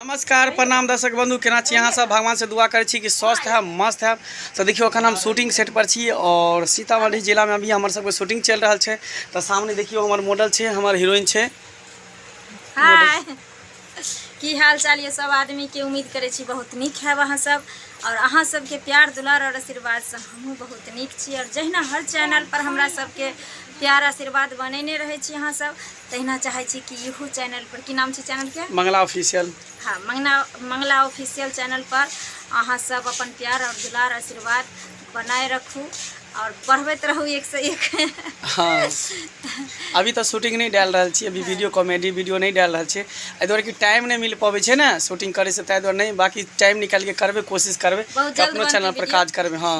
नमस्कार प्रणाम दर्शक बंधु केना छी अहाँ सब भगवान से दुआ करै छी कि स्वस्थ है मस्त है तो देखियो अखन हम शूटिंग सेट पर छी और सीतामढ़ी जिला में अभी हमर सबके शूटिंग चल रहल छै तो सामने देखियो हमर मॉडल छै हमर हीरोइन छै हाय की हाल चाल ये सब आदमी के उम्मीद करै छी बहुत नीक है अहाँ सब और अहाँ सबके प्यार दुलार और आशीर्वाद से हमहूँ बहुत नीक छी और जहिना हर चैनल पर हमरा सबके प्यार आशीर्वाद बनेने रहै छी अहाँ सब तहिना चाहै छी कि इहो चैनल पर की नाम छै चैनल के मंगला ऑफिशियल हाँ मंगना मंगला ऑफिशियल चैनल पर अहाँ सब अपन प्यार और दुलार आशीर्वाद बनाए रखू और बढ़बैत रहू एक से एक हाँ अभी तो शूटिंग नहीं डाल रहा छी अभी वीडियो कॉमेडी वीडियो नहीं डाल रहा छी एहि दुआरे कि टाइम नहीं मिल पाबे छै ना शूटिंग करे से ताहि दुआरे नहीं बाकी टाइम निकाल के करबे कोशिश करबे बहुत जल्द अपनो बनतै चैनल पर वीडियो। काज करबे हाँ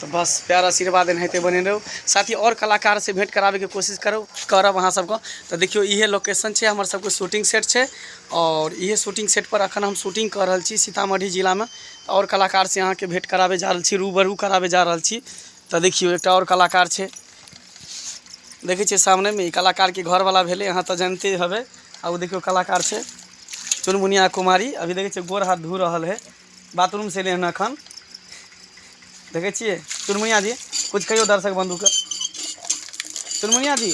तऽ बस प्यार आशीर्वाद एनाहिते बने रहू साथी आओर कलाकार से भेंट कराबे के कोशिश करू करब अहाँ सबके तऽ देखियौ इहे लोकेशन छै हमर सबके शूटिंग सेट छै और इहे शूटिंग सेट पर अखन हम शूटिंग कर रहल छी सीतामढ़ी जिला में और कलाकार से अहाँ के भेंट कराबे जा रहल छी रूबरू कराबे जा रहल छी तऽ देखियौ एकटा और कलाकार छै देखै छियै सामने में ई कलाकार के घर वाला भेले अहाँ तऽ जानते हबे आ ओ देखियौ कलाकार छै चुनमुनिया कुमारी अभी देखै छियै गोर हाथ धो रहल है बाथरूम से एलियै हन एखन देखै छियै चुनमुनिया जी किछु कहियौ दर्शक बंधुके चुनमुनिया जी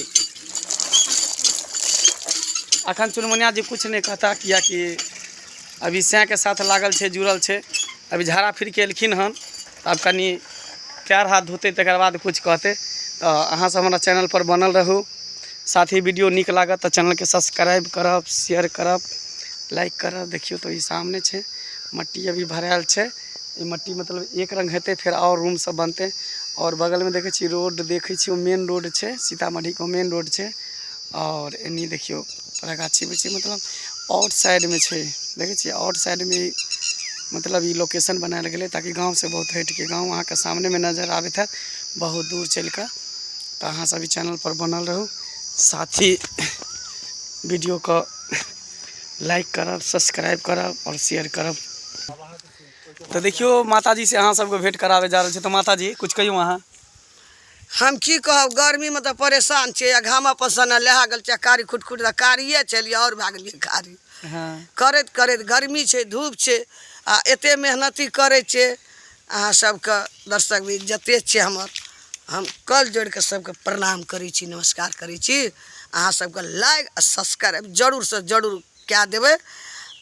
अखन चुनमुनिया जी किछु नहि कहता किएकि अभी सैँके साथ लागल छै जुड़ल छै अभी झाड़ा फिरके एलखिन हन आब कनि पैर हाथ धोतै तकर बाद किछु कहतै तऽ अहाँसभ हमरा चैनलपर बनल रहू साथ ही वीडियो नीक लागत तऽ चैनलके सब्सक्राइब करब शेयर करब लाइक करब देखियौ तऽ ई सामने छै मट्टी अभी भरायल छै ई मट्टी मतलब एक रङ्ग हेतै फेर आओर रूमसभ बनतै आओर बगलमे देखै छी रोड देखै छी ओ मेन रोड छै सीतामढ़ीके मेन रोड छै आओर एन्नी देखियौ पूरा गाछी वृक्षी मतलब आउट साइडमे छै देखै छियै आउट साइडमे मतलब ई लोकेशन बनायल गेलै ताकि गाँवसँ बहुत हटिके गाँव अहाँके सामनेमे नजर आबैत हैत बहुत दूर चलि कऽ तऽ अहाँ सब ई चैनलपर बनल रहू साथी वीडियोके लाइक करब सब्सक्राइब करब आओर शेयर करब तऽ देखियौ माताजीसँ अहाँ सबके भेँट कराबै जा रहल छै तऽ माताजी किछु कहियौ अहाँ हम की कहब गर्मीमे तऽ परेशान छियै आ घामा पसन्न लहा गेल छियै कारी खुट खुट तऽ कारिये छलियै आओर भए गेलियै कारी करैत करैत गर्मी छै धूप छै आ एते मेहनती करै छियै अहाँ सबके दर्शक भी जते छियै हमर हम कल जोड़ि कऽ सबके प्रणाम करै छी नमस्कार करै छी अहाँ सबके लाइक आ सब्सक्राइब जरूर सँ जरूर कए देबै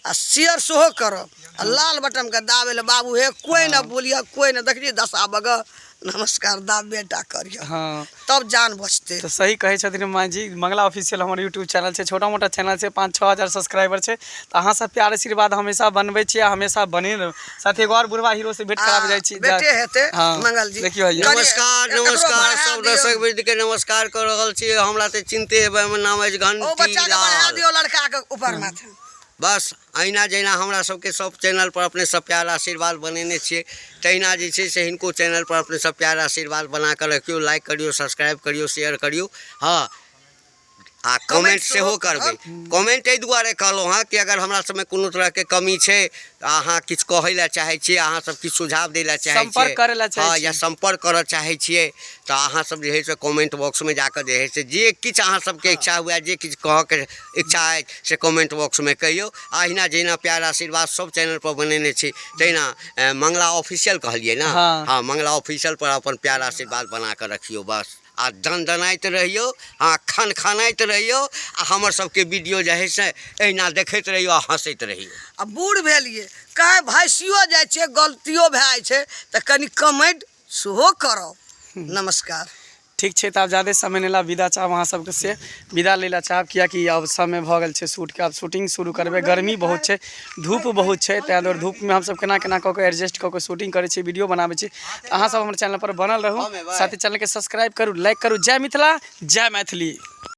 आ शेयर सेहो करब आ लाल बटमके दाबे लए बाबू हे कोइ ने बोलिह कोइ ने देखली दशा बगऽ नमस्कार दाब बेटा करिह हाँ तब जान बचते तो सही कहे छथिन माँ जी मंगला ऑफिशियल हमारे यूट्यूब चैनल से छोटा मोटा चैनल से पाँच छः हजार सब्सक्राइबर से तो अहाँ सब प्यार आशीर्वाद हमेशा बनबे छे हमेशा बने साथ एगो और बुढ़वा हीरो से भेंट करावे जाय छी बेटे हेते हाँ, मंगल जी देखियो आइए। करिए। नमस्कार एकरो नमस्कार बढ़ा सब दियौ। दर्शक वृत्ति के नमस्कार कर रहल छी हमरा ते चिंते हेबे हमर नाम अछि ओ घंटी बच्चा के बढ़ा लाल दियो लड़का के ऊपर माथे बस अहिना जहिना हमरा सबके सब चैनल पर अपने सब प्यार आशीर्वाद बनेने छियै तहिना जे छै से हिनको चैनल पर अपने सब प्यार आशीर्वाद बना कऽ रखियौ लाइक करियौ सब्सक्राइब करियौ शेयर करियौ हँ आ कमेंट सेहो करबै कमेंट एहि दुआरे कहलहुँ हँ कि अगर हमरा सबमे कोनो तरहके कमी छै तऽ अहाँ किछु कहै लए चाहै छियै अहाँ सब किछु सुझाव दै लए चाहै सम्पर्क करै लए चाहै हँ या छियै। सम्पर्क करऽ चाहै छियै तऽ अहाँ सब जे है से कमेंट बॉक्समे जाकऽ जे है से जे किछु अहाँ सबके इच्छा हुए जे किछु कहऽके इच्छा अछि से कमेंट बॉक्समे कहियौ आ अहिना जहिना प्यार आशीर्वाद सब चैनल पर बनेने छी तहिना अ, मंगला ऑफिशियल कहलियै ने हाँ। हँ मंगला ऑफिशियल पर अपन प्यार आशीर्वाद बना कऽ रखियौ बस आ दनदनाइत रहियौ आ खनखनाइत रहियौ आ हमर सबके वीडियो जे है से एहिना देखैत रहियौ आ हँसैत रहियौ आ बूढ़ भेलियै कहीं भैंसियो जाइ छै गलतियो भए जाइ छै तऽ कनि कमेंट सेहो करब नमस्कार ठीक छै तऽ आब जादे समय नहि ला विदा चाहब अहाँ सबके से विदा लै ला चाहब कियाकि आब समय भऽ गेल छै शूटके आब शूटिंग शुरू करबै गर्मी बहुत छै धूप बहुत छै ताहि दुआरे धूपमे हमसभ केना केना कऽ कऽ एडजस्ट कऽ कऽ शूटिंग करै छी वीडियो बनाबै छी तऽ अहाँसभ हमर चैनलपर बनल रहू साथ ही चैनलके सब्सक्राइब करू लाइक करू जय मिथिला जय मैथिली